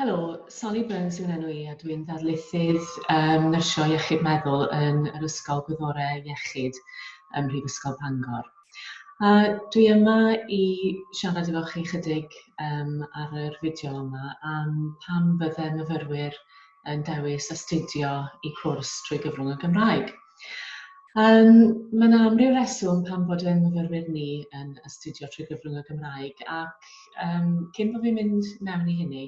Helo, Sally Burns yw'n enw i a dwi'n ddarlithydd um, nyrsio iechyd meddwl yn yr Ysgol Gwyddorau Iechyd ym Mhrifysgol Bangor. A dwi yma i siarad efo chi chydig um, ar yr fideo yma am pam bydde myfyrwyr yn dewis astudio i cwrs trwy gyfrwng y Gymraeg. Yym, mae 'na amryw reswm pam bod ein myfyrwyr ni yn astudio trwy gyfrwng y Gymraeg ac yym cyn bo' fi'n mynd mewn i hynny,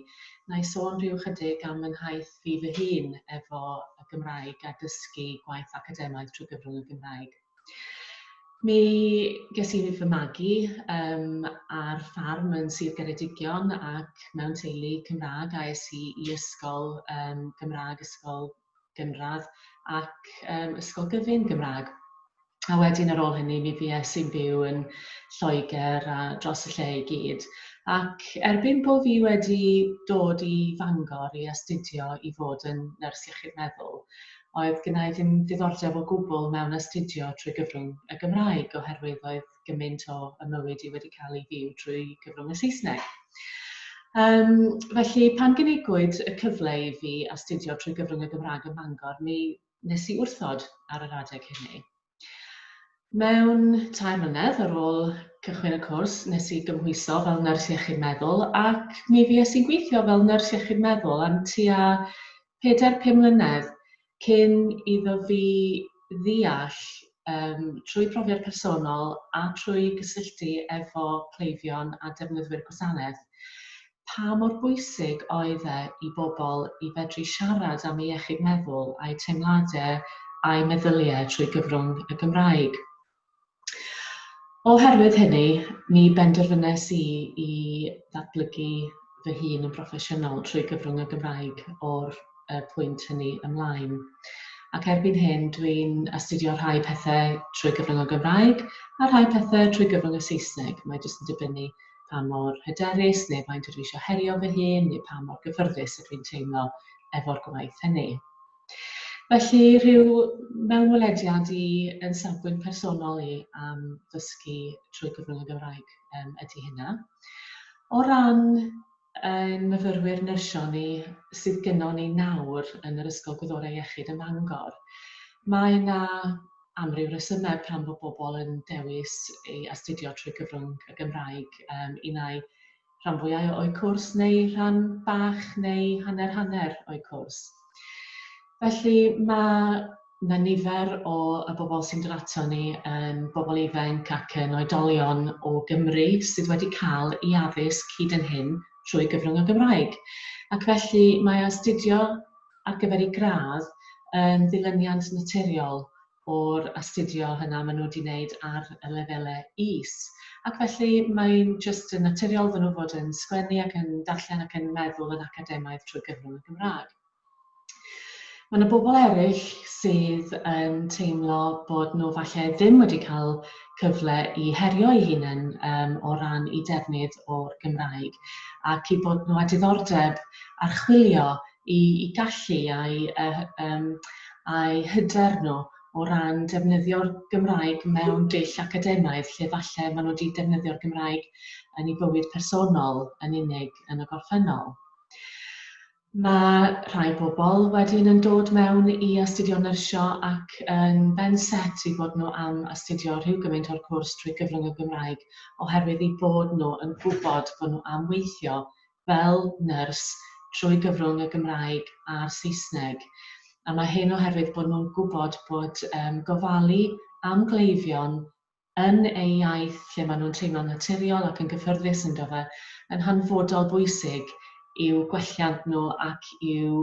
wna i sôn rhyw ychydig am fy nhaith fi fy hun efo y Gymraeg a dysgu gwaith academaidd trwy gyfrwng y Gymraeg. Mi ges i fy magu yym ar ffarm yn Sir Geredigion ac mewn teulu Cymraeg a es i i ysgol yym Gymraeg, ysgol gynradd ac um, ysgol gyfun Gymraeg. A wedyn ar ôl hynny mi fues i'n byw yn Lloegr a dros y lle i gyd. Ac erbyn bod fi wedi dod i Fangor i astudio i fod yn nyrs iechyd meddwl, oedd gynnau ddim ddiddordeb o gwbl mewn astudio trwy gyfrwng y Gymraeg oherwydd oedd gymaint o y mywyd i wedi cael ei fyw trwy gyfrwng y Saesneg. Um, felly, pan gynigwyd y cyfle i fi astudio trwy gyfrwng y Gymraeg ym Mangor, mi nes i wrthod ar yr adeg hynny. Mewn tair mlynedd ar ôl cychwyn y cwrs, nes i gymhwyso fel nyrs iechyd meddwl ac mi fi i'n gweithio fel nyrs iechyd meddwl am tua 4-5 mlynedd cyn iddo fi ddeall yym trwy profiad personol a trwy gysylltu efo cleifion a defnyddwyr gwasanaeth pa mor bwysig oedd e i bobl i fedru siarad am eu iechyd meddwl a'u teimladau a'u meddyliau trwy gyfrwng y Gymraeg. Oherwydd hynny, mi benderfynais i i ddatblygu fy hun yn broffesiynol trwy gyfrwng y Gymraeg o'r uh, pwynt hynny ymlaen. Ac erbyn hyn, dwi'n astudio rhai pethau trwy gyfrwng y Gymraeg a rhai pethau trwy gyfrwng y Saesneg. Mae jyst yn dibynnu pa mor hyderus neu faint ydw i eisiau herio fy hun neu pa mor gyffyrddus ydw i'n teimlo efo'r gwaith hynny. Felly, rhyw mewnwelediad i yn safbwynt personol i am ddysgu trwy gyfrwng y Gymraeg um, ydy hynna. O ran ein myfyrwyr nyrsio ni sydd gynnon ni nawr yn yr Ysgol Gwyddorau Iechyd ym Mangor, mae yna amryw resymau pam bod bobl yn dewis ei astudio trwy gyfrwng y Gymraeg um, un ai rhan fwyau o'u cwrs neu rhan bach neu hanner hanner o'u cwrs. Felly mae mae nifer o y bobl sy'n dod ato ni yn bobl ifanc ac yn oedolion o Gymru sydd wedi cael ei addysg hyd yn hyn trwy gyfrwng y Gymraeg. Ac felly mae astudio ar gyfer ei gradd yn ddilyniant naturiol o'r astudio hynna maen nhw wedi wneud ar y lefelau is. Ac felly mae'n jyst yn naturiol iddyn nhw fod yn sgwennu ac yn darllen ac yn meddwl yn academaidd trwy gyfrwng y Gymraeg. Mae yna bobl eraill sydd yn teimlo bod nhw falle ddim wedi cael cyfle i herio eu hunain um, o ran i defnydd o'r Gymraeg ac i bod nhw â diddordeb archwilio i i gallu a'i yy yym a'i hyder nhw o ran defnyddio'r Gymraeg mewn dull academaidd lle falle ma' nhw 'di defnyddio'r Gymraeg yn ei bywyd personol yn unig yn y gorffennol. Mae rhai pobl wedyn yn dod mewn i astudio nyrsio ac yn ben set i bod nhw am astudio rhyw gymaint o'r cwrs trwy gyfrwng y Gymraeg oherwydd eu bod nhw yn gwybod bod nhw am weithio fel nyrs trwy gyfrwng y Gymraeg a'r Saesneg, a mae hyn oherwydd bod nhw'n gwybod bod yym gofalu am gleifion yn eu iaith lle maen nhw'n teimlo'n naturiol ac yn gyffyrddus ynddo fe yn hanfodol bwysig i'w gwelliant nhw ac i'w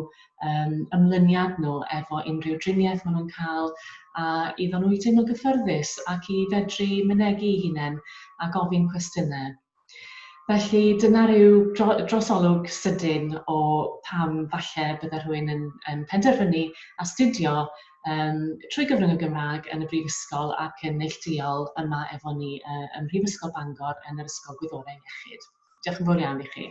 yym ymlyniad nhw efo unrhyw driniaeth maen nhw'n cael a iddon nhw i teimlo'n gyffyrddus ac i fedru mynegu eu hunain a gofyn cwestiynau. Felly dyna ryw dro- drosolwg sydyn o pam falle bydde rhywun yn yn penderfynu astudio yym trwy gyfrwng y Gymraeg yn y brifysgol ac yn neillduol yma efo ni yy ym Mhrifysgol Bangor yn yr Ysgol Gwyddorau Iechyd. Diolch yn fowr iawn i chi.